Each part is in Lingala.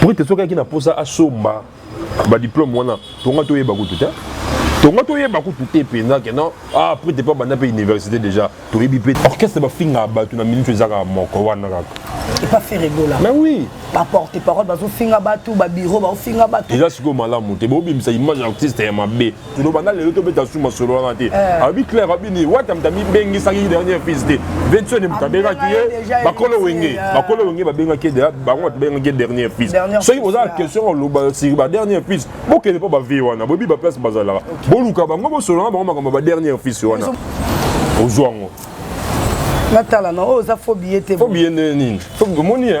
Pour te soki na posa asomba ba diplôme wana tonga to yeba kutu te. Tonga to yeba kutu te penza que non ah pour te pas banda pe université déjà to yebi pe orchestre ba finga batu na minute ezaka moko wana kaka. Et pas faire rigola. Mais oui. Ba porte parole bazo finga batu ba bureau ba finga batu. Déjà siko malamu te bo bimisa image artiste ya mabe. tuno banda lelo tobeta su masolo wana te eh. alobi claire abini wata moto amibengisaki dernier fils te vincent moto abengaki ye bakolo wenge eh. bakolo wenge babengaki ye bango bato babengaki ye dernier fils soki boza na question oloba siri ba dernier fils bokende mpo bavie wana boyebi baplace bazalaka boluka bango bosolana bango makambo ya ba dernier fils wana ozwa yango natala na oyo oza fo biye te fo biye ndenge nini omoni e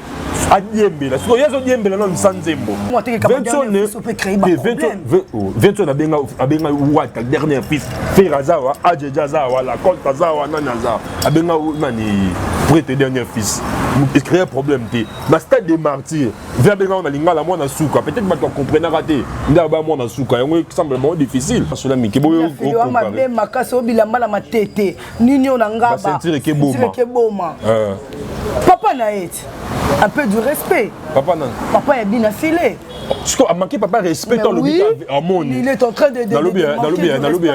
adiembela sikoyo ye azodiembela na lisa nzembo vincent abenga wata dernier fils fer aza wa ajeja aza wa lacolte aza wa nani aza abenga nani prete dernier fils créer problème te na stade de martyr ve abenga ngo na lingala mwana suka peut-être bato bacomprenaka te nde aba mwana suka yango esemble bango difficile asola mike boyomakasi obilamba na matete nini oyo na ngaba ceinture ekeboma eh. papa na ye ti un peu du respect papa nani papa ya bina file sikoyo amanke papa respect to alobi amoni nalobi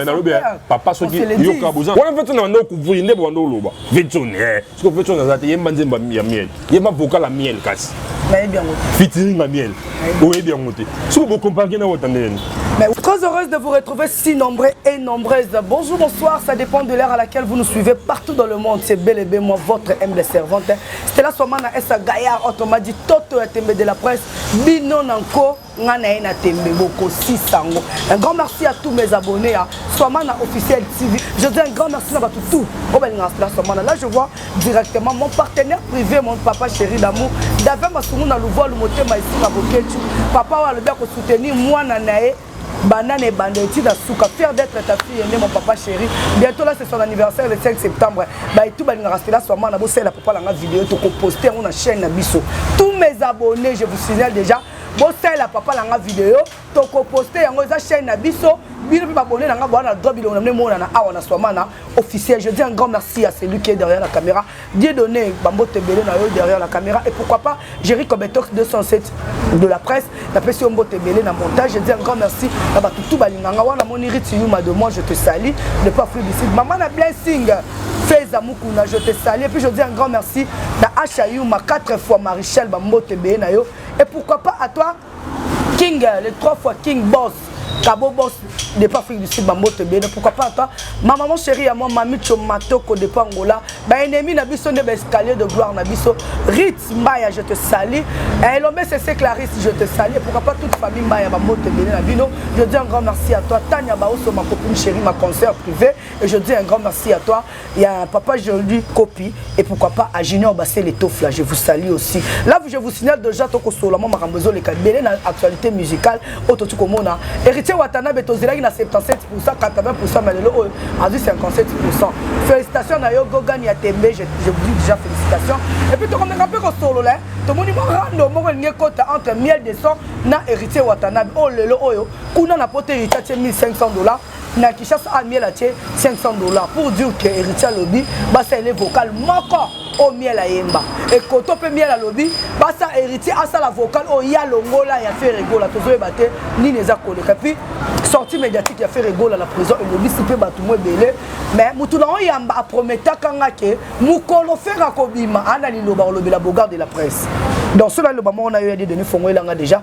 nalobi papa soki yoka boza wana mpe tona banda okuvri nde banda oloba vetone Siko mpe chance aza te yemba nzemba ya miel yemba vocal ya miel kasi nayebi yango fitiring ya miel oyebi yango te siko bokompanke na wota ndenge Mais très heureuse de vous retrouver si nombreux et nombreuses. Bonjour, bonsoir, ça dépend de l'heure à laquelle vous nous suivez partout dans le monde. C'est bel et bien moi, votre humble servante. Stella Somana Essa Gaillard, autrement dit Toto Yatembe de la presse, Bino Nanko. nga na ye na tembe bokosisa yango un grand merci à tous mes abonnés ya swamana officiel tv je dis un grand merci na bato tout oyo balingaka sila swamana là je vois directement mon partenaire privé mon papa chéri d'amour dave masungu na luvualu motema esinga bokecu papa oyo alobi akosoutenir mwana na ye banda na ebanda eti na suka fier d'être ta fille nde mon papa chéri bientôt là c'est son anniversaire le 5 septembre baetu balingaka sela swamana bosalela papa na nga video tokoposte yango na chaîne na biso tous mes abonnés je vous signale déjà bosalela papa na nga video tokoposte yango eza chaîne na biso bino mpe babone na nga boa na droit bilongo na bino emonana awa na swamana officiel je dis un grand merci à celui qui est derrière la caméra dieu donné bambote ebele na yo derrière la caméra et pourquoi pas jerry cobetox 207 de la presse napesi yo mbote ebele na montage je dis un grand merci na bato tu balinganga wana moni riti yuma de moi je te sali le pas fruit d'ici mama na blessing feza mukuna je te sali et puis je dis un grand merci na asha yuma 4 fois marichal bambote ebele na yo Et pourquoi pas à toi, King, euh, les trois fois King Boss, Cabo Boss, de pas Afrique du Sud, Bambo Tebele, pourquoi pas à toi, ma maman chérie à moi, Mami Chomatoko de Pangola, bah ennemi na biso nde escalier de gloire na biso, Ritz Mbaya, je te salue, et l'homme c'est Clarisse, je te salue, pourquoi pas toute famille Mbaya, Bambo Tebele, la Bino, je dis un grand merci à toi, Tania Baoso, ma copine chérie, ma concert privée, et je dis un grand merci à toi, ya papa Jordi Kopi et pourquoi pas à Junior Bassé les Tofla je vous salue aussi là je vous signale déjà toko solo mama kambo zo les kabele na actualité musicale auto tu komona héritier Watanabe to zelaki na 77% 80% mais lelo oyo azui 57% félicitations na yo Gogan ya Tembe je, je vous dis déjà félicitations et puis toko meka pe ko solo là to moni mo rando moko linge kota entre miel de sang na héritier Watanabe oh lelo oyo kuna na pote héritier 1500 dollars na kishasa amiel atie 500 dollars pour dire que héritier alobi basalele vocal moko oyo miel ayemba ekoto mpe miel alobi basa héritier asala vocal oyo ya longola ya feregola tozoyeba te nini eza koleka puis sortie médiatique ya feregola na prison elobisi mpe bato mo ebele mais motu na oyamba aprometaka nga ke mokolo fere akobima ana liloba kolobela bogard de la presse donc soki naloba moko na yo ya dedone fongo elanga déjà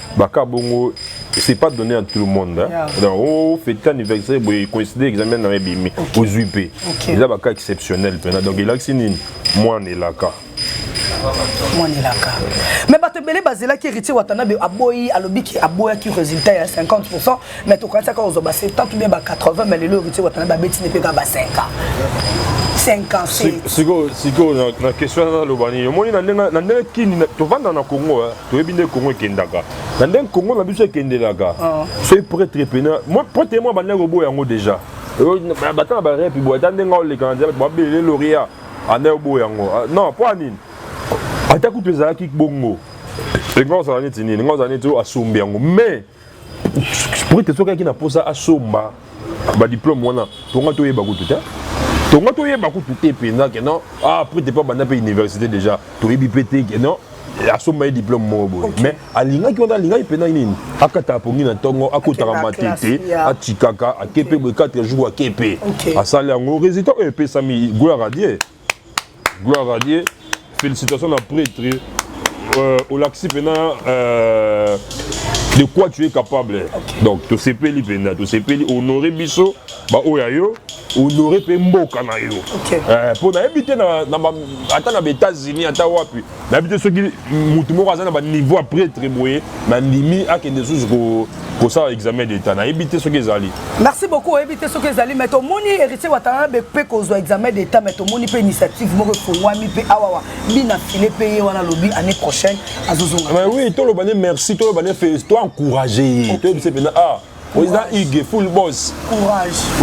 baka bongo c'est pas donné à tout le monde hein? yeah. donc oh, fête anniversaire boye coïncide examen na ebimi ozwi mpe eza baka exceptionnel mpena donc elakisi nini mwana elaka mwana elaka mais bato ebele bazelaki héritier watanabe aboyi alobi ke aboyaki résultat ya 50 mais tokanisa kaka kozwa ba 70 ou bien ba 80 mais lelo héritier watana babeti ne mpe kaka ba 5 ans 5 ans sikoyo sikoyo na question wana naloba nini omoni na ndenge kini tovanda na congo toyebi nde congo ekendaka na ndenge congo na biso ekendelaka ah. soki pretre pena pretre mwa bandaki koboya yango déjà bata na barepi boye ata ndenge aoleka na nzela babelele loria anda oboya yango ah, non mpo ya nini ata kutu ezalaki bongo elingi ozala neti nini elingi ozala neti oyo asombi yango mais Pour te soki na posa asomba ba diplôme wana tonga to yeba kutu te. Tonga to yeba kutu te penza que non ah pour te pas banda pe université déjà to yebi pe te que non asomba ye diplôme moko boye mais alingaki wana alingaki mpena nini akataka pongi na ntongo akotaka matete atikaka ake mpe boye 4 jour ake mpe asali yango résultat oyo epesami gloire a dieu gloire à dieu félicitations na prêtre euh, olakisi mpena euh, de quoi tu es capable okay. donc tosepeli mpenza tosepeli honore biso baoyo ya yo honore mpe mboka na yo mpo okay. euh, nayebi te ata na baétats-unis ata wapi nayebi te soki motu moko aza na baniveau ya pretre boye nandimi akende lisusu kosala examen d'état nayebi te soki ezali merci beaucoup oyebi te soki ezali mai tomoni héritier watana mpe kozwa examen d'état mai tomoni mpe initiative moko efongwami mpe awawa bina file mpe ye wana alobi année prochaine azozonga oui toloba ne merci toloba ne to encourage ye toyebisa mpenza ah oza ige full boss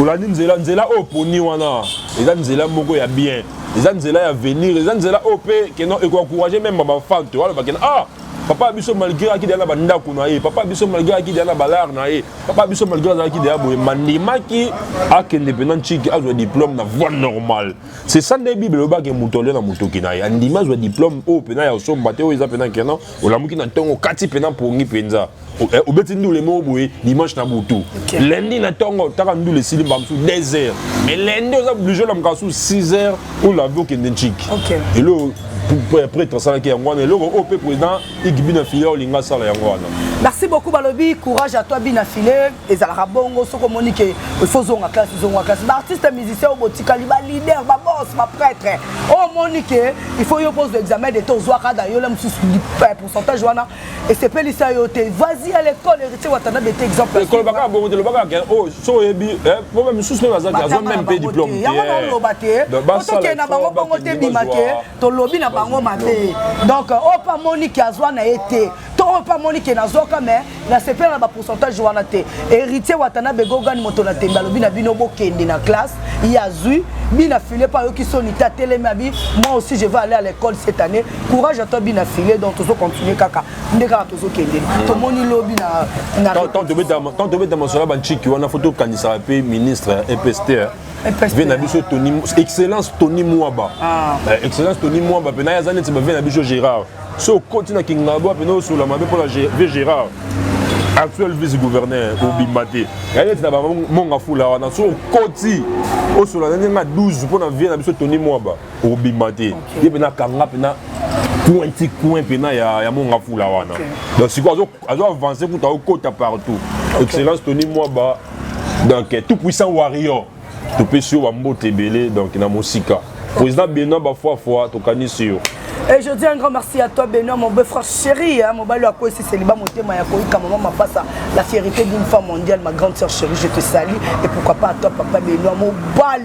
olandi nzela nzela oyo poni wana eza nzela moko ya bien eza nzela ya venir eza nzela oyo mpe keno ekoencourage meme bafante aloba kena ah papa biso malgré akidi na bandako na ye papa biso malgré akidi na balare na ye papa biso malgré azalaki deya boye mandimaki akende mpena nciki azwa diplôme na voie normale c'est ça nde bible elobaki moto alio na motoki na ye andimi azwa diplôme oyo mpena ya osomba te oyo eza mpena kena olamuki na ntongo okati mpena mpongi mpenza Eh, obeti ndule moko boye dimanche na butu lundi na ntongo otaka ndule esili mbala mosusu 2 heures mais lundi oza oblige olamka su 6 heures olavi okende ntiki eloko prêtre asalaki yango wana eloko oyo mpe président igibina filia olinga asala yango wana merci beaucoup balobi courage à toi bina file ezalaka bongo soki omoni ke ifo ozonga classe ozonga classe baartiste musicien oyo botikali baleader babos baprêtre oyo omoni ke ifo yo mpo ozwa examen de to ozwaka da yola mosusu pourcentage wana esepelisa yo te vas-y à l'école héritier watanabe te exemple ekolobaka bongo te lobaka ke o oh, so oyebi eh, po ba misusu mpe baza te azwa meme mpe diplôme te yango naoloba te po tokende na bango bongo te bima te tolobi na bango mabe donc oyo oh, mpe amoni ke azwa na ye te to oyo oh, mpe amoni ke nazwaka mais nasepela na bapourcentage wana te héritier watanabe gogani moto na tembe alobi na bino bokende na classe ye azwi bina file mpe ayoki soni te atelemi abi moi aussi je vais aller à l'école cette année courage à toi bina filet donc tozo continuer kaka nde kaka tozo kende mm. tomoni lobi na na tant de beta tant de beta masola banchiki wana faut tokanisa pe ministre EPST hein. vie na biso tony excellence tony mwaba ah. eh, excellence tony mwaba mpe naye aza neti bavie na biso gérard so okoti na kingabwa mpe naosola mabe mpo na vie gérard actuel vice gouverneur ah. obimba te yaye neti na bamonga fula wana so okoti osola na ndenge ya 12 mpo na vie na biso tony mwaba obima te ye mpena akanga mpena coin ti coin mpena ya, ya monga fula wana okay. donc sikoyo azo avance kuta okota partout okay. excellence tony mwaba donc eh, tout puissant warrior topesi yo bambote ebele donc na mosika président benoit bafuafua tokanisi yo Et je dis un grand merci à toi Benoît, mon beau-frère chéri, hein, mon balo à quoi c'est célibat, mon témoin, à quoi maman m'a passé la fierté d'une femme mondiale, ma grande sœur chérie, je te salue. Et pourquoi pas à toi, papa Benoît, mon bali.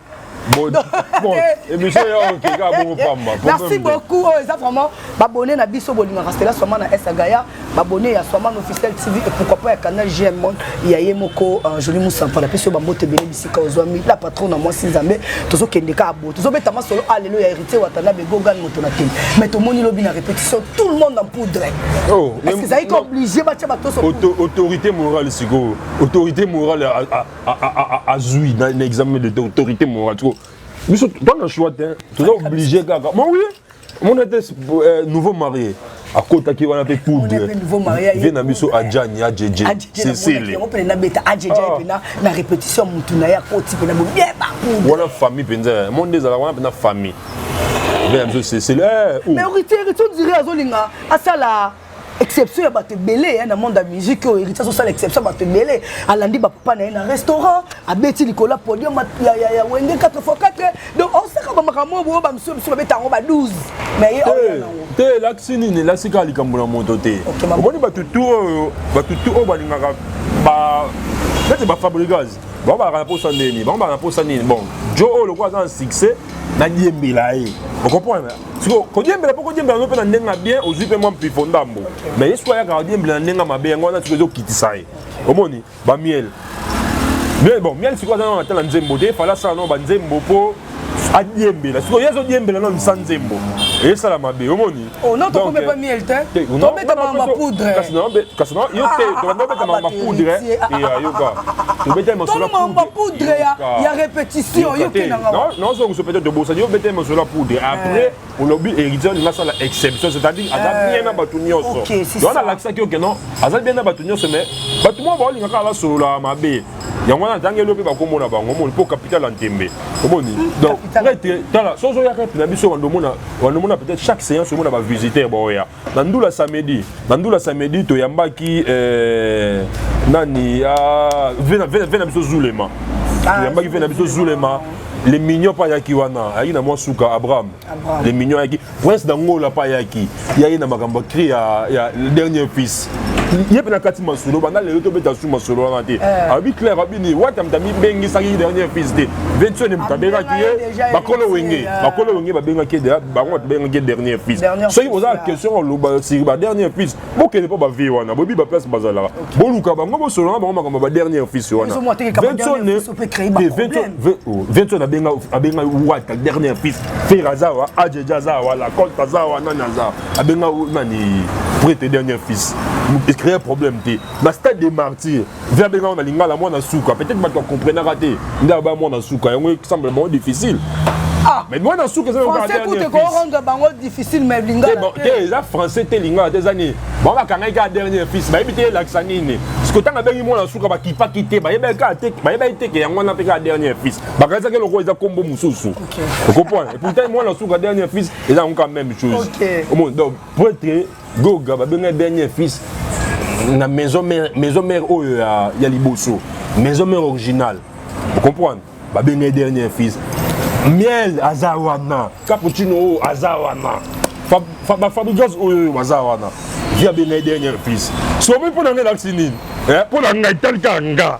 merci beaucoup oyo eza vraiment babone na biso bolingaka stela swama na esagaya babone ya swama na officiel tv et pourquoi pas ya canal gm ya ye moko euh, joli musampa napesi yo bambote ebele bisika ozwami la patron na mwasi nzambe tozokende kaka bo tozobeta masolo alelo ah, ya héritier watana begogan moto na tele mais tomoni lobi na répétition tout le monde en poudre oh, ezalaki obligé batya batoso autorité morale sikoyo autorité morale azwi na examen de autorité morale siko biso to na choix te toza oblige kaka ma oui omona te euh, nouveau marié akotaki wana mpe poudre vie na biso ajani ajeje sesele wana famille mpenza mo nde ezalaka wana mpenza famille vie na biso sesele eh, oh. mais héritier héritier on dirait azolinga asala exception ya bato ebele ya na monde ya musique oyo héritier azosala exception ya bato ebele alandi bapapa na ye na restaurant abeti likolo ya podium ya wenge 4 fois 4 donc osaka bamakambo oyo bamisusu bisu babeta yango ba 12 mais ye te elakisi nini elakisi kaka likambo na moto te omoni bato tu oyo bato tu oyo balingaka ba neti bafabrigase bango balaka na posa ndeni bango balaka na posa nini bon jo oyo lokola aza na succès nadiembela ye okomprendre siko kodiembela mpo kodiembela yango mpe na ndenge ya bien ozwi mpe mwa mpifo ndambo mais ye soki ayaka kodiembela na ndenge ya mabe yango wana siko ezokitisa ye omoni bamiele miele bon miele sikoyo aza nano ata na nzembo te efale asala nao banzembo mpo adiembela sikoyo ye azodiembela nano sa nzembo esala mabe omoni oh, kasi no yo te tobanda obeta mapoudre ya yoka tobeteli masolo mapoudre ya répétition yokenangaozongisa peut-être obosani yo obeteli masolo ya poudre après olobi héritier olingi asala exception c'est-à-dire aza bien na bato nyonso wana alakisaki yo keno aza bien na bato nyonso mais bato moko baolinga kaka basolola mabe yango wana ntango elobi bakomona bango omoni mpo capital ya ntembe omoni donc prêtre tala soki ozoyaka na biso wandomona peut-être chaque séance omona bavisiteurs baoya na ndula samedi na ndula samedi toyambaki eh, nani ah, vena, vena, vena biso zulema ah, toyambaki vena biso zulema le mignon mpe ayaki wana ayaki na mwa suka abraham le mignon ayaki prince dangola mpe ayaki ye aye na makambo ya cri ya, ya dernier fils ye mpe nakati masolo banda lelo tobeta su masolo wana te eh. alobi claire abini wata moto amibengisaki ye dernier fils te vetione moto abengaki ye bakolo wenge eh. bakolo wenge babengaki ye deja bango bato babengaki ye dernier fils soki boza na question oloba siri ba dernier fils bokende mpo bavie wana boyebi baplace bazalaka boluka bango bosolo na bango makambo ba dernier fils wana vetione abenga wata dernier fils fer azawa ajeja azawa lacolte azawa nani azawa abenga nani près tes dernier fils ecréer problème te na stade de martyr ve abenga ngo na lingala mwana suka peut-être bato bacomprenaka te nde aba mwana suka yango esemble bango difficile Ah, mais mwana suka eza français kutu ekorendre bango difficile mais lingala eh, te eza français te lingala te eza nini bango bakangaki kaka dernier fils bayebi te elakisa nini sikoyo ntango abengi mwana suka bakipaki te bayebaki kaka te bayebaki teke yango wana mpe kaka dernier fils bakanisaki lokola eza nkombo mosusu okompone epourtant mwana suka dernier fils eza yango ka même chose omoni donc prêtre goga babengai dernier fils na maison mère maison mère oyo ya, ya liboso maison mère originale ocomprendre babengai dernier fils miel aza wana cappuccino oyo aza wana bafabrigas oyo baza wana vi abengai dernier fils somi mpo na ngai elakisi nini mpo na ngai tali kaka nga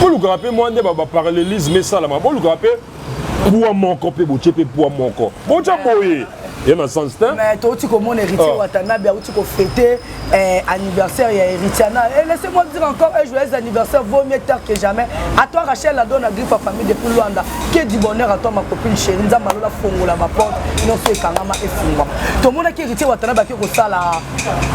bolukaka mpe mwa nde baparallelisme esalama bolukaka mpe pwa moko mpe botie mpe pwa moko botya boye ye na sens te mais touti komona héritier ah. watanabe auti kofete eh, anniversaire ya héritier na et eh, laissez moi dire encore un joyeux anniversaire vaut mieux tard que jamais à toi rachel ado na griffe ya famille depuis luanda que du bonheur à toi ma copine chéri nzambe alola fongola baporte nyonso ekangama efungwama tomonaki héritier watanabe ake kosala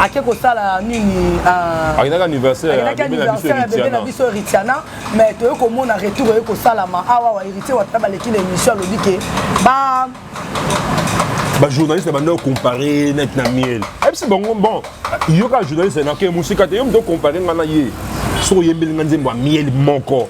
ake kosala nini ah, akendaki anniversaire ya bebe na biso heritiana mais toyei komona retour oye kosalama awa wa heritier wata baleki na émission alobi ke ba bajournaliste banda ocompare net na miel ayebisi bango bon yoka journaliste nake mosika te yo moto ocompare ngai na ye soki oyembeli ngai nzembo ya miel moko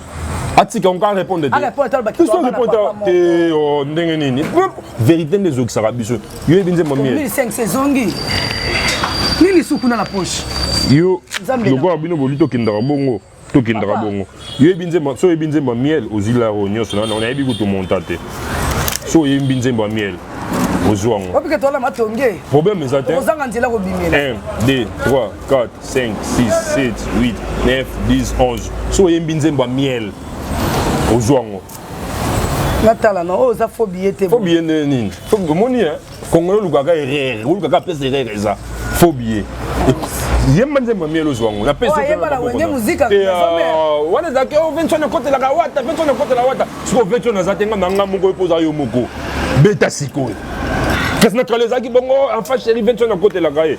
atika yango kaka repondre teso repondre te oh, ndenge nini verité nde ezokisaka biso yo yebi nzembo mie nini suku na la poche yo lokola bino boli tokendaka bongo tokendaka bongo yo yebi nzembo so yebi nzembo miel ozwi laro nyonso nano nayebi kutu monta te so oyembi nzembo ya miel ozwi yango problème eza te 1 2 3 4 5 6 7 8 9 10 11 so oyembi nzembo ya miel ozwa yango natala na oyo oh, oza fo biye te fo biye nde nini omoni eh? kongo olukaka erreur olukaka apesa erreur eza fo biye yemba nzembo ya miel ozwa yango napesawana oh, ezalaki o vention ekotelaka wata vention ekotela wata sikoyo vention aza te nga na nga moko epoza yo moko beta sikoyo kasi na kala ezalaki bongo enfa chéri vention akotelaka ye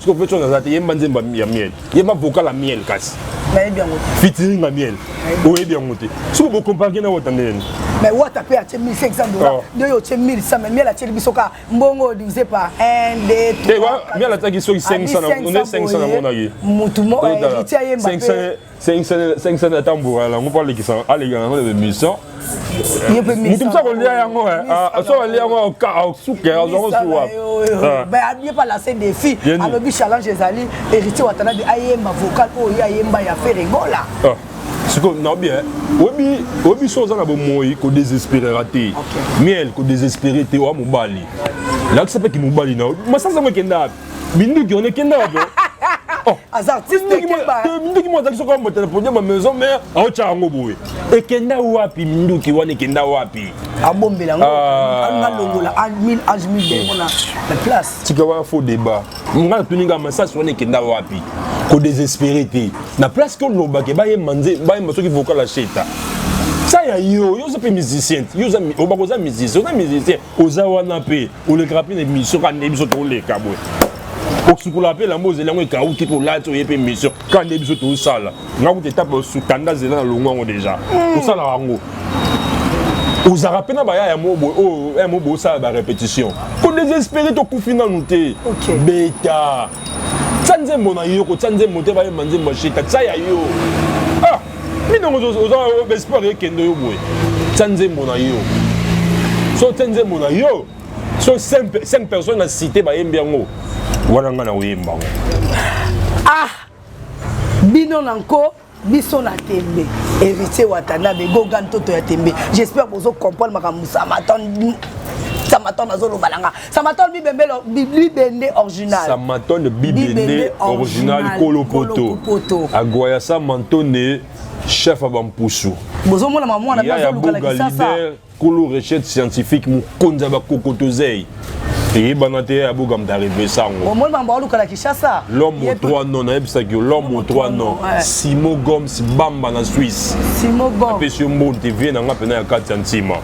siko mpe tonga aza te yemba nzemba ya miel yemba vocal ya miel kasi nayebi yango te fitiring ya miel oyebi yango te siko bokomparke na wata ndeni mais wata mpe atie 1500 dola oh. nde oyo otie 1100 mais miel atieli biso ka mbongo divise par 1 2 miel atiaki soki 500 na 500 na monaki motu mo héritier ayemba mpe 500 ata mbura yango mpo alekisa aleka yango na bemission moto mosa kolia yango so alia yango asuke azwango suwa abie pa lase defi alobi challenge ezali héritier watanabe ayemba vocal oyo ye ayemba ya feregola sikoyo naobi oyebi oyebi so oza na bomoi kodesesperera te miel kodesespere te oya mobali lakisa mpe kimobali na yo masasi yango ekenda wapi Minduki on est kenda wapi oh. aza artiste keba minduki mo azaki soko mbota na podium ya maison mère aotya yango boye ekenda wapi minduki wana ekenda wapi abombela yango ah. anga longola admin ajmin bongo na na place tika wana faux débat nga natuni nga masasi wana ekenda wapi kodésespéré te na place ke olobake bayemba nze bayemba soki vocal ya sheta sa ya yo yo oza mpe musicien te yo obakoza musicien oza musicien oza wana mpe olekaka mpe na emission kaka nde biso toleka boye osukola mpe elambo ozeli yango ekauki mpe olati oye mpe emission kaka nde biso tosala nga kuta etape osukanda zela na longo yango deja osala yango ozalaka mpe na bayaya mo boye oyo oh, eh, mo boye osala barépétition ko désespéré tokufi nanu te beta tya nzembo na yo kotya nzembo te bayemba nzembo ya sheta tya ya yo minongo oza baespoir ekende yo boye tya nzembo na yo so tya nzembo na yo so 5 personnes na cité bayembi yango wana ngai na koyemba yango ah bino na nko biso na tembe héritier watanabe goga ntoto ya tembe j'espère bozo comprendre makambo samatan samatan azoloba na nga Samatone bibembele bibende original. Samatone bibende original kolo poto. Agoya Samatone chef ya bampusu. Bozo mona mamu wana bazo luka la kisasa. Kolo recherche scientifique mokonzi ya bakokotozei. eyebana te ya boga moto arevesa yango omoni mambo aoluka na kinshasa l'homme au trois non nayebisaki yo l'homme au trois non simo goms bamba na swisse apesi yo mbonte vie na nga mpena ya kati ya ntima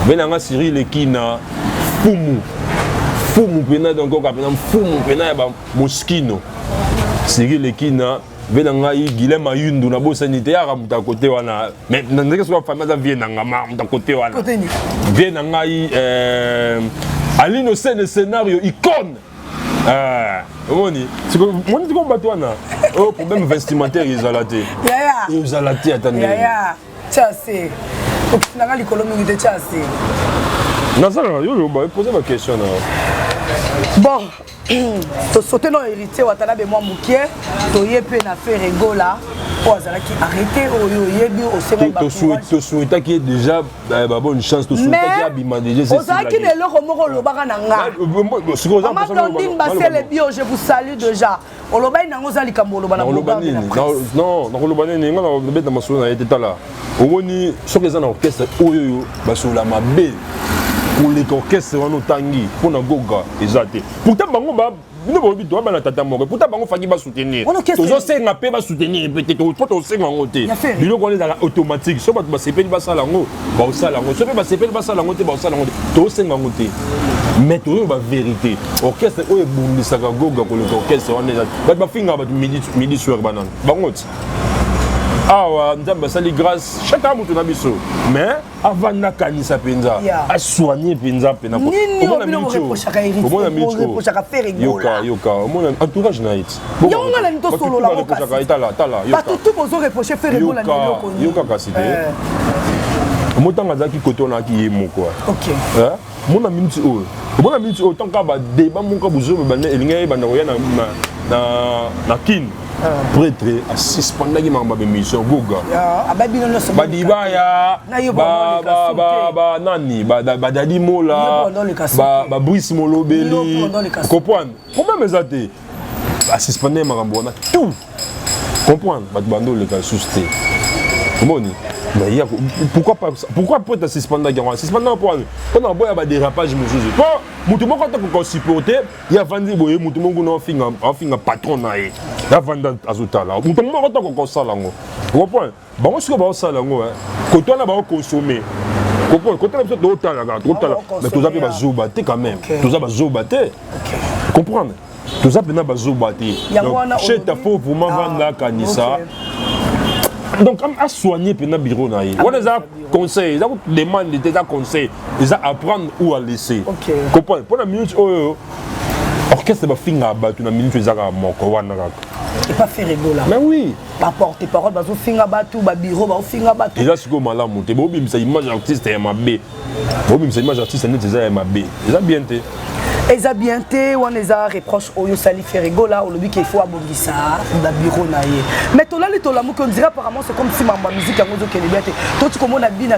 vie na nga sirile kina mfumu mfumu mpena donc oka mpena mfumu mpena ya bamoskino siril ekina ve na ngai gile mayundu nabosani te yaka moto akote wana mais na ndenge soki afami aza vie na nga ma moto akote wana vie na ngai euh, alino sene scenario icone euh, omoni moni tiko bato wana oyo oh, problème vestimentaire ezala te ezala te ata ndenge tya se okisi nanga likolo mingi te tya se nazalaka yo loba epoze baquestion na yo bon tosote na héritier watanabe mwa mokie toye mpe na feregola mpo azalaki arrete oyo oyebi osengaitosuetaki ye déjà eh, babonne chance tosuetaki abima dejaozalaki na eloko moko olobaka na ngaimamablandine basele bio je vous salue déjà olobaki nango oza likambo oloba na nakoloba nini non nakoloba nini nga nabeta masolo na ye te tala omoni soki eza na orchestre oyo oyo basolola mabe koleka orchestre wana otangi mpo na goga eza te pourtant bango bino bolobi toa bana tata moko eputa bango faki basoutenir tozosenga mpe basoutenir mpe te mpo tosenga yango te biloko wana ezalaka automatique so bato basepeli basala yango baosala yango soki basepeli basala yango te baosala yango te tosenga yango te mais toyoba vérité orchestre oyo ebundisaka goga koleka orchestre wana eza bato bafingaka bato midi soir banani bango ti awa nzambe asali grâce chaka moto na biso mais avanda akanisa mpenza asoigne mpenza mpenaomona entourage na ye ti yango nga nani tosolola ngo kasi bato tu bozo reproche fere bola na eloko nini yoka kasi te eh. motanga azalaki kote wana aki ye moko eh? mona miniti oyo omona miniti oyo ntango kaka badeba moko bozobe banda elingi ayebanda koya na kin ah. pretre asuspendaki makambo ya bemission goga ah, badibaya banani badadi mola babrice molobeli kopwana problème eza te basuspende makambo wana tout comprendre bato bando oleka lisusu te omoni mais ya pourquoi pas pourquoi peut suspendaki yango suspendaki mpo wani mpo na boya badérapage mosusu mpo moto moko ata koka osupporte ye avandi boye moto moko kuna afinga patron na ye avandi azotala moto moko ata koka osala yango comprendre bango sikoyo baosala yango eh. koto wana baokonsome koto na biso totalaka totala mais toza mpe bazoba te quand même toza bazoba te comprendre toza mpena bazoba te cheta fo vraimen ah, vanda akanisa donc asoigne mpena biro na ye ah, wana eza conseil eza demande te eza conseil eza apprendre ou à laisser comprendre mpo na minute oyo orchestre bafingaka bato na minute ezaka moko wana kaka mais oui baporte parole bazofinga bato babiro baofinga bato eza sikoyo malamu te bobimisa image artiste ya mabe bobimisa image artiste neti eza ya mabe eza bien te eza bien te wana eza reproche oyo osali ferigola olobi ke faut abongisa babiro na ye mais tolali tolamuki ondira apparemment c'est comme si mambo ya musique yango ezokende bien te toti komona bina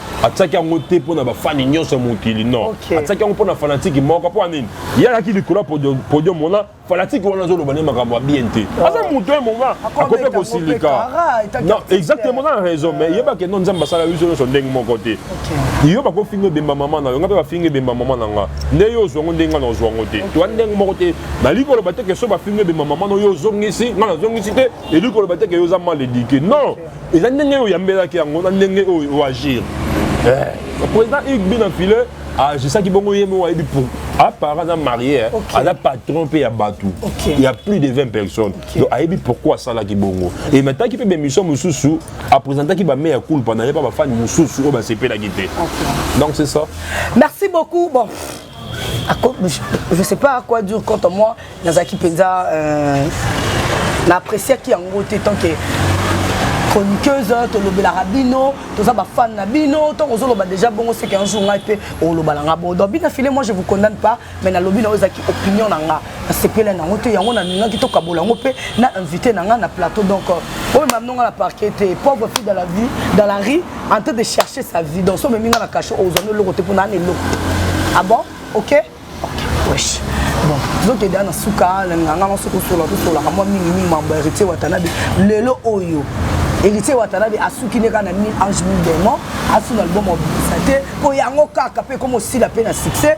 atiaki yango te mpo na bafani nyonso ya mokili non okay. atiaki yango mpo na fanatiki moko mpo nini ye alaki likolo ya podium wana fanatiki wana azoloba nde makambo ya bien te oh. aza moto ye moma akope kosilika exactement na raison mais yebake no nzambe asala biso nyonso ndenge moko te yo bakofinga ebemba mama na yo nga mpe bafinga ebemba mama na nga nde yo ozwa ngo ndenge nga na ozwa ngo te toa ndenge moko te nalingi koloba te ke so bafinga ebemba mama na yo ozongisi nga nazongisi te elingi koloba te ke yo oza mal edike non eza ndenge oyo oyambelaki yango na ndenge oyo oagir eh, président igbi na filet agisaki bongo ye moko ayebi pour apara aza marie eh. aza patron mpe ya bato ya plus de 20 personnes donc ayebi pourquoi asalaki bongo emataki mpe bemission mosusu apresentaki bame ya kulpa na ye mpa bafani mosusu oyo basepelaki te donc c'est ça merci beaucoup bon je sais pas à quoi dure quant à moi nazalaki mpenza euh, na appréciaki yango te tant que chroniqueuse tolobelaka bino toza bafane na bino ntango ozoloba déjà bongo seke un jour ngai mpe olobala nga bon donc bina file moi je vous condamne pas mais nalobi na oyo ezalaki opinion na nga nasepela nango te yango nalingaki tokabola yango mpe na invité na ngai na plateau donc euh, oyo mamino ngai na parquet te pauvre fille dans la vie dans la rue en train de chercher sa vie donc so omemi ngai na cachet ozwami eloko te mpo naa na eloko ah bon ok ok wesh bon tozokende ya na suka nalinga ngai nyonso kosola tosolaka mwa mingimingi mambo ya héritier watanabe lelo oyo héritier watanabe asuki nde kaka na mille ange mille démon asuna album obimisa te mpo yango kaka mpe ekoma osila mpe na succès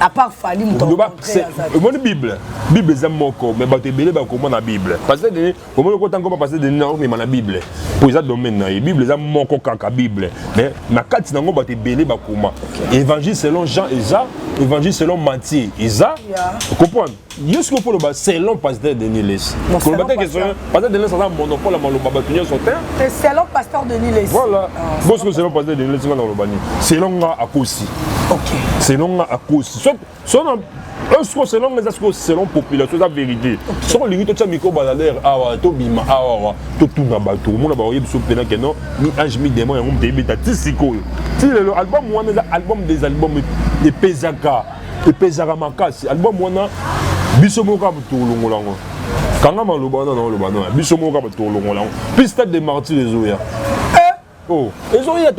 à part Fally moto omoni bible bible eza moko mais bato ebele bakoma na bible parce que omoni okota ngoma parce que na omema na bible mpo eza domaine na ye bible eza moko kaka bible mais na kati na yango bato ebele bakoma évangile selon jean eza évangile selon matthieu eza okomprendre yo soki mpo oloba selon pasteur denis lesi koloba te question pasteur denis aza monopole ya maloba bato nyonso te te selon pasteur denis lesi voilà ah, bo soki selon pasteur denis lesi nga na koloba nini selon nga akosi ok selon nga akosi sona siko selon nga eza sikoyo selon population eza vérité soki olingi totya miko balalere awa tobima awawa totuna bato omona baoyebi biso mpena ke non mi ange mi démon yango moto eyebeta ti sikoyo ti lelo album wana eza album des albums epezaka epezaka makasi album wana biso moko kaka tokolongola yango kanga maloba wana naoloba nona biso moko kaka tokolongola yango mpe stade de martyr ezoya eh! oh, ezoya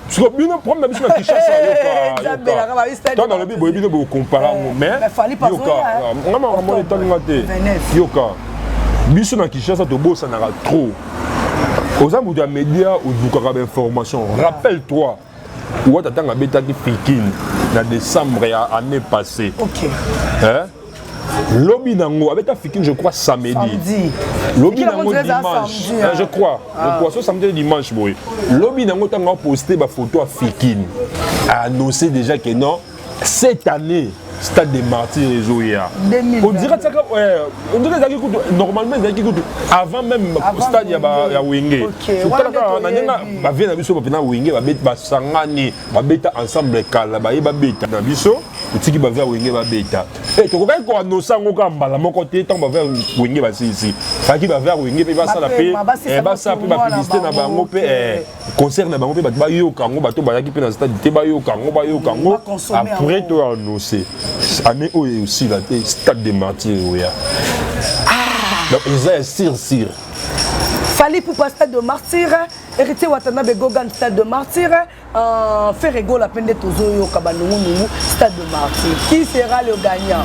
siko bino problème na biso na kinshasa yokatango nalobi boye bino bokompara yango maisyoka nga makambo etali nga te yoka biso na kinshasa tobosanaka trop oza moto ya média odukaka bainformation rappelle toi wata ntango abetaki pikine na décembre ya année passée okay. hein? lobi nango abeta fikine je crois samedi lobi nango dimanche hein, je crois je ah. crois so samedi dimanche boye lobi nango ntango aposte bafoto ya fikine a annoncé déjà que non cette année stade de martyr ezoya ondira tiaka ondira ezalaki kutu normalement ezalaki kutu avant même stade ya wenge otalaka na ndenge bavie na biso bapena wenge basangani babeta ensemble kala baye babeta na biso otiki bavie ya wenge babeta e tokokaki koanosa yango kaka mbala moko te ntango bavie ya wenge basilisi faki bavie ya wenge mpe basala mpe basala mpe bapublicité na bango mpe concert na bango mpe bato bayoka yango bato bayaki mpe na stade te bayoka yango bayoka yango après to annonce année oyo esila te stade de martyr oya ah! donc eza ya sire sire fali pupa stade de martyr héritier watanabe gogan stade de martyr euh, ferre gola mpe nde tozoyoka banungunungu stade de martyr qui sera le gagnant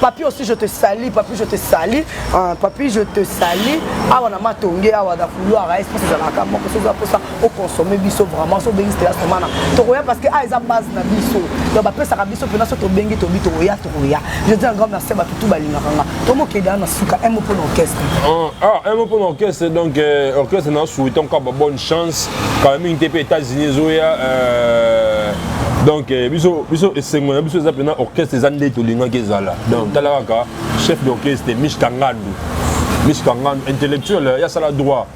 papi aussi je te sali papi je te sali uh, papi je te sali awa na matonge awa na couloir a espèce ezalaka moko soki aposa oconsomme biso vraiment so obengisi tela somana tokoya parce que a ah, eza base na biso donc bapesaka biso mpena so tobengi tobi tokoya tokoya je dis un grand merci bato tu balingaka nga tomokeda na suka un mot mpo na orchestre ah, ah un mot mpo na orchestre donc euh, orchestre na suitanka babonne chance kala mingi te mpe états-unis ezoya euh, donc euh, biso biso esengo na biso eza mpena orchestre eza nde tolingaki ezala donc tala kaka chef d'orchestre mich kangandu mich kangandu intellectuel euh, yasala droit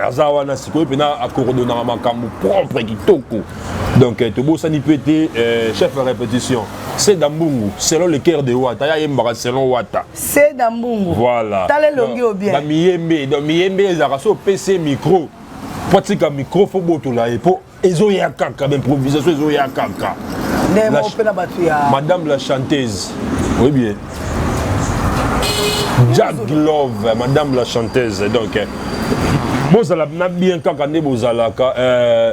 aza wana sikoyo mpena akorodonaka makambo propre kitoko donc tobosani mpe te chef ya répétition seda mbungu selon le cœur de wata ya yembaka selon wata seda mbungu voilà tala elongi oyo bien bamiyembe donc miyembe ezalaka so opesi micro po atika micro fo botola ye po ezoya kaka baimprovisation ezoya kaka madame la chanteuse oui bien jack love madame la chanteuse donc eh, bozala na bien kaka nde bozalaka euh,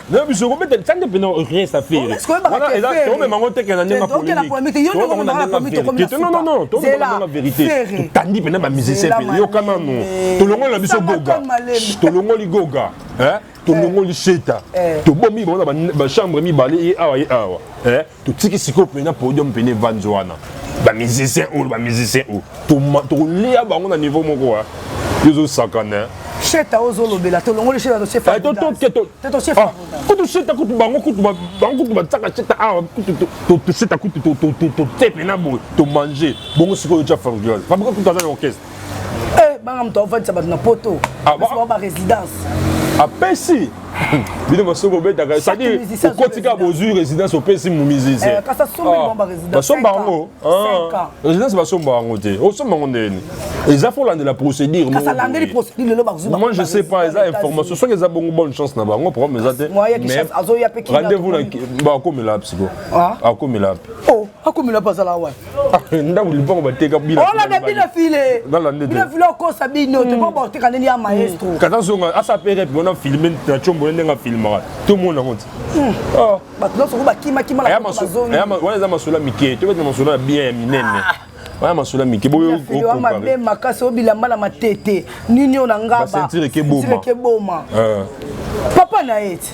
nayo biso kobeta lisande mpena reste affaire wana eza tomema ngo teke na ndenge polemiquenonono tomema verité totandi mpena bamusicien mpena yoka nano tolongoli na biso goga tolongoli goga tolongoli sheta tobomi bango na bachambre mibale ye awa ye awa totiki sikoyo mpena podium mpena evanzi wana bamusicien oyo bamusicien oyo tokolia bango na niveau moko wa yo ozosakana sheta ozolobela tolongoli sheta toshefakutu sheta kutu bango kutu bango kutu batiaka sheta awa kutu sheta kutu totepe na boye tomange bongo sikoyo tya fabrigal fabrigal kutu aza na orchestre eh, banga moto aofandisa bato na poto ah, barésidence apesi bino basuki kobetaka cetadire okotika bozwi résidence opesi mumizizi eh, basomba ah, yango ah. résidence basomba yango te osomba yango ndeni eza fo olandela procédure moi je sais pas eza information soki eza bongo bonne chance na bango problème eza te rendez-vous bakomela psiko akomela pe akomela mpe azala wapi ah, ndako lipango bateka bilolanda bino file bino file okosa bino te po boteka ndeni ya maestro hmm. kata zonga asapere mpe wana filme na combo ndenge afilmaka tomona yango ti hmm. ah. bato nyonso ko bakimakima wana eza masolo ya mike tobeti na masolo ya bien ya minene ah. wana masolo ya mike boyomabe makasi oyo bilamba na matete nini oyo na ngabasentirekeboma eh. papa na ye ti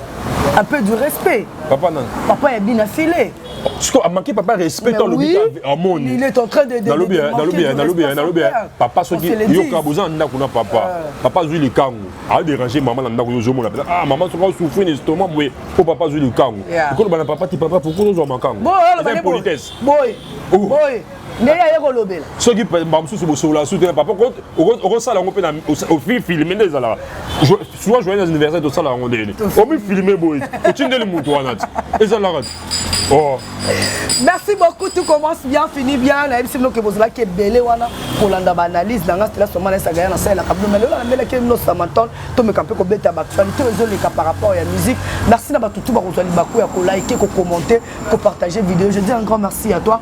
un peu du respect papa nani papa ya bina file siko amanke papa respect to alobi amoni nalobi nalobi nalobi papa soki yoka boza na ndako na papa euh. papa azwi likangu aderange mama na ndako yo ozomona mpenza ah mama soki osouffrir na estoma boye mpo papa azwi likangu okoloba na papa ti papa pourkoi ozwa makangu eza impolitesse nde ye aye kolobela soki mbaka mosusu bosolola su te papa okosala yango mpe na ofilme nde ezalaka souvent joyeux anniversaire tosala yango ndeni omifilme boye otindeli moto wana ti ezalaka ti oh. merci beaucoup tout commence bien fini bien nayebisi bino ke bozalaki ebele wana kolanda baanalyse na ngai stela soma naesaka ya nasalelaka bino mai lelo namelaki bino samatol tomeka mpe kobeta baactualité oyo ezoleka par rapport ya musique merci na bato tu bakozwa libaku ya kolike kokommente kopartage video je dis un grand merci à toi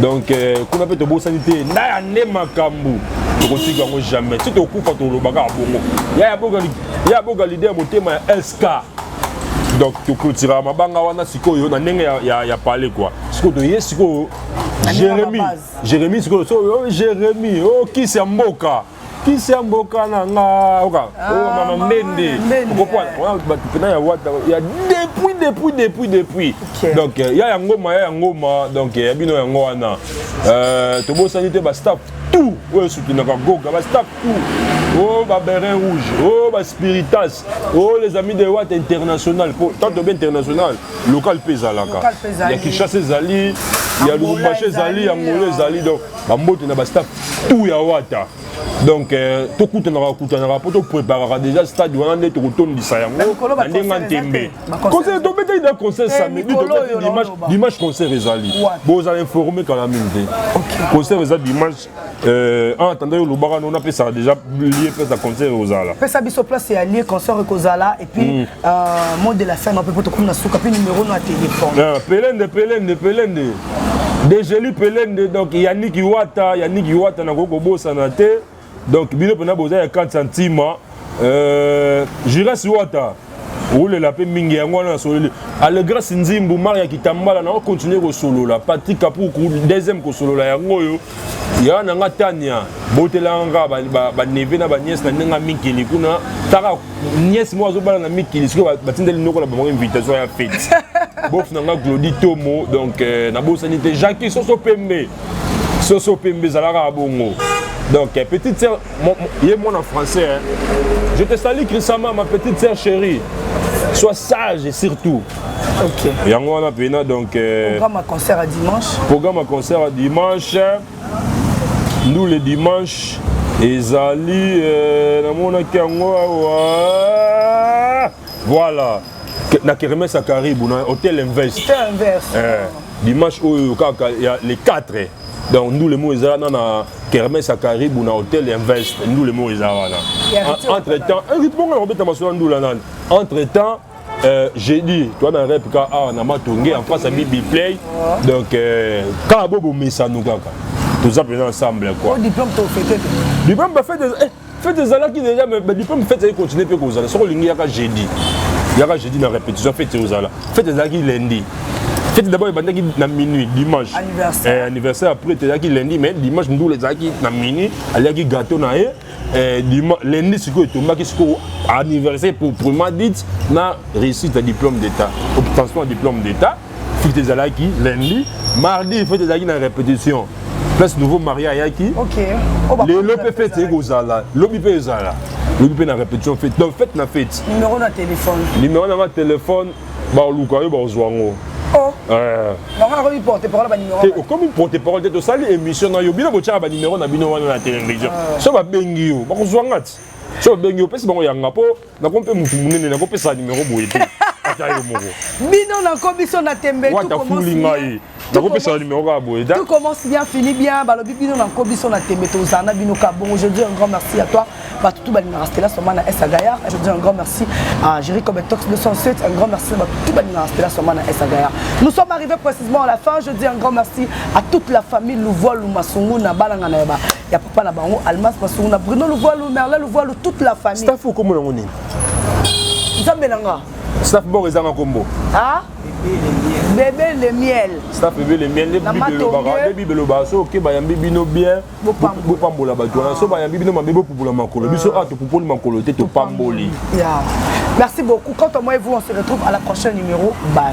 donc euh, kuna mpe tobosani te ndaya nde makambo tokotika yango jamais ti tokufa toloba kaka bongo ya boga lide ya motema ya sk donc toclotira mabanga wana sikoyo na ndenge ya, ya, ya pale kua sikoyo toye sikoyo jérémi jérémi sikoyo so jérémi okisi oh, ya mboka kisi ya mboka na nga oka ah, oyo oh, mama mbende okopwana wana bato mpena ya wata ya depuis depuis depuis depuis donc euh, ya ya ngoma ya ya ngoma donc euh, ya bino yango wana euh, tobosani te bastaff tout oyo esutunaka goga bastaff tout oh baberin rouge oh baspiritas oh les amis de wat international mpo tanto be international local mpe ezalaka ya kinshasa ezali ya lubumbashi ezali ya ngolo ezali donc bambote na bastaff tout ya wata donc euh, tokutanaka kutanaka mpo topreparaka déjà stade wana nde tokotondisa yango na ndenge ya ntembe conseil tobetaki da conseil eh, samedi tobeti dimanche dimanche concert ezali bozala informe kala mingi te concert eza dimanche euh, en attendant yo olobaka no napesaka déjà lie place ya concert ekozala pesa biso place ya lie concert ekozala puis mm. euh, mot de la fin mapepo tokómi na suka puis numéro no ya téléphone ah, pelende pelende pelende degeli pelende donc yaniki wata yaniki wata nakoki kobosana te donc bino mpena boza ya 4 centima euh, juras wata olela mpe mingi yango wana nasololi alegrasi nzimbu maria kitambala na okontinue kosolola patrik kapuku deuxième kosolola yango oyo yaya na nga tania botelanga kaka baneve ba, ba na baniese na ndenge ya mikili kuna taka niese moko azobala na mikili sikoyo batindeli noko na bango invitation ya fete bof na nga glodi tomo donc euh, nabosani te jacki soso pembe soso pembe ezalaka bongo donc euh, petite sœur ye mwana français hein. je te sali chrisama ma petite sœur chérie sois sage surtout Okay. yango wana mpena donc euh, programme ya concert ya dimanche programme ya concert ya dimanche ndule dimanche ezali euh, namonaki yango awa voilà na kermese ya karibu na hotel invest eh, dimanche oyo kaka ya le 4 donc ndule moko eza wana na kermese ya karibu na hotel invest ndule moko eza wana entre temps eh, riponga nakobeta masolo ya ndula nani entre temps Euh, jeudi toi na rep ka awa na matonge en face ya bibi play donc euh, kaka bo bomesano kaka toza mpenza ensemble quoi diplôme tofete diplôme bafete eh, fete ezalaki deja mais diplôme fete ezali continue mpe kozala soki olingi yaka jeudi yaka jeudi na répétition fete ozala fete ezalaki lundi fete d'abord ebandaki na minuit dimanche anniversaire, eh, anniversaire après ezalaki lundi mais dimanche ndula ezalaki na minuit aliaki gâteau na ye Eh, dima, lundi sikoyo etombaki sikoyo anniversaire pour prima dite na réussite ya diplôme d'état obtention ya diplôme d'état fete ezalaki lundi mardi fete ezalaki na répétition place nouveau maria ayaki okay. Oh, bah, lelo mpe fete eye kozala lobi mpe ezala lobi mpe na répétition fete donc fete na fete numéro na téléphone numéro na nga téléphone bakoluka yo bakozwa yango oh. eh. eh, okomi porte parole te tosali émission na yo bino botyaka banimero na bino wana na télévision ah. so babengi yo bakozwa nga ti so babengi yo opesi bango yanga mpo nako mpe motu monene nakopesa nimero boye te ata yo moko bino nako biso na tembe wata fuli ngai nakopesa numero kaka boye tout commence bien fini bien balobi bino na nko biso na tembe tozala na bino ka bongo je dis un grand merci à toi bato tout balingaka stela soma na esa gayar je dis un grand merci à géri comme tox 207 un grand merci na bato tout balingaka stela soma na esa gayar nous sommes arrivés précisément à la fin je dis un grand merci à toute la famille louvoilu masungu na balanga na yaba ya papa na bango almas masungu na bruno louvoilu merla louvoilu toute la famille staff okomona yango nini nzambe na nga staff boko ezanga kombo ah bebe le miel staff bebe le miel nde bible elobaka nde bible elobaka so oke bayambi bino bien bopambola bato wana so bayambi bino mabe bopupola makolo biso awa topupoli makolo te topamboli merci beaucoup quant à moi et vous on se retrouve à la prochaine numéro bye